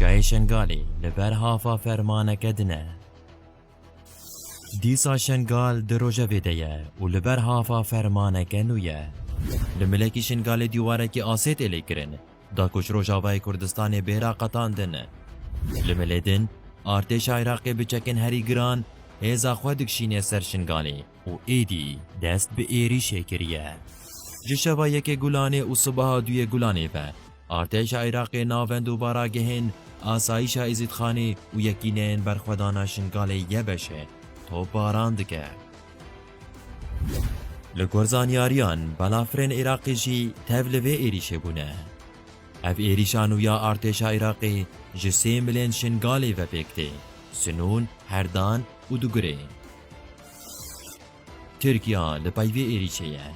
Çayê Şengalê li ber hafa fermaneke din e. Dîsa Şengal di rojevê de ye û li ber hafa fermaneke nû ye. Li milekî Şengalê dîwarekî asê tê lêkirin, da ku ji Rojavayê Kurdistanê bêra qetandin. Li milê din, artêşa Iraqê bi çekên herî giran hêza xwe dikişînê ser Şengalê. û êdî dest bi êrîşê kiriye. Ji şeva yekê Gulanê û sibeha duyê Gulanê ve artêşa Iraqê navend û baragehên asayîşa Êzîdxanê û yekîneyên berxwedana Şingalê YBŞ'ê topbaran dike. Li gor zanyariyan balafirên Iraqê jî tev li vê êrîşê bûne. Ev êrîşa nû ya artêşa Iraqê ji sê milên Şingalê ve pêk tê, Sinûn, Herdan û Dugurê. Tirkiya li peyvê êrîşê ye.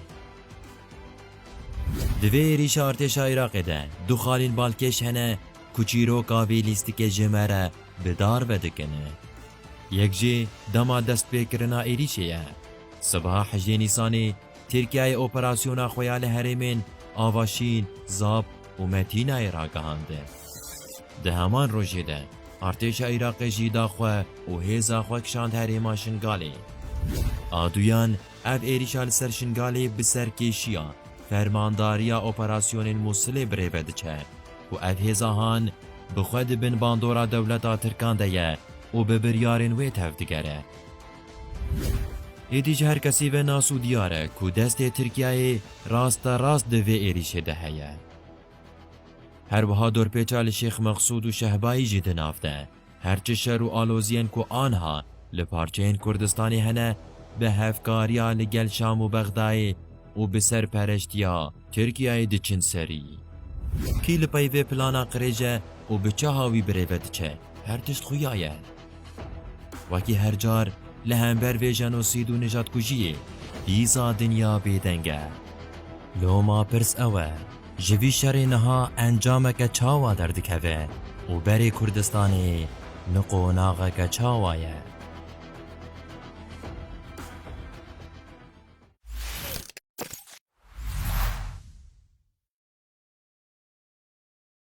Di vê êrîşa artêşa Iraqê de du xalên balkêş hene ku çîroka vê lîstikê ji me re bi dar vedikin. Yek jî dema destpêkirina êrîşê ye. Sibeha hejdê Nîsanê Tirkiyeyê operasyona xwe ya li herêmên Avaşîn, Zap û Metînayê ragihand. Di heman rojê de artêşa Iraqê jî da xwe û hêza xwe kişand herêma Şingalê. A duyan ev êrîşa li ser Şingalê bi serkêşiya Fermandariya Operasyonên Mûsilê bi rê ve diçe ku ev hêza han bi xwe di bin bandora dewleta Tirkan de ye û bi biryarên wê tevdigere. Êdî ji her kesî ve nas û diyar e ku destê Tirkiyeyê rasterast di vê êrîşê de heye. Her wiha dorpêça li Şêx Mexsûd û Şehbayî jî di nav de. Her çi şer û aloziyên ku anha li parçeyên Kurdistanê hene, bi hevkariya li gel Şam û Bexdayê û bi serperestiya Tirkiyeyê diçin serî. Kî li peyvê plana qirêj e û bi çaha wî birêve diçe, her tişt xuya ye. Wekî her car li hember vê jenosîd û nijatkujiyê dîsa dinya bêdeng e. Loma pirs ew e, ji vî şerê niha encameke çawa derdikeve û berê Kurdistanê ni qonaxeke çawa ye?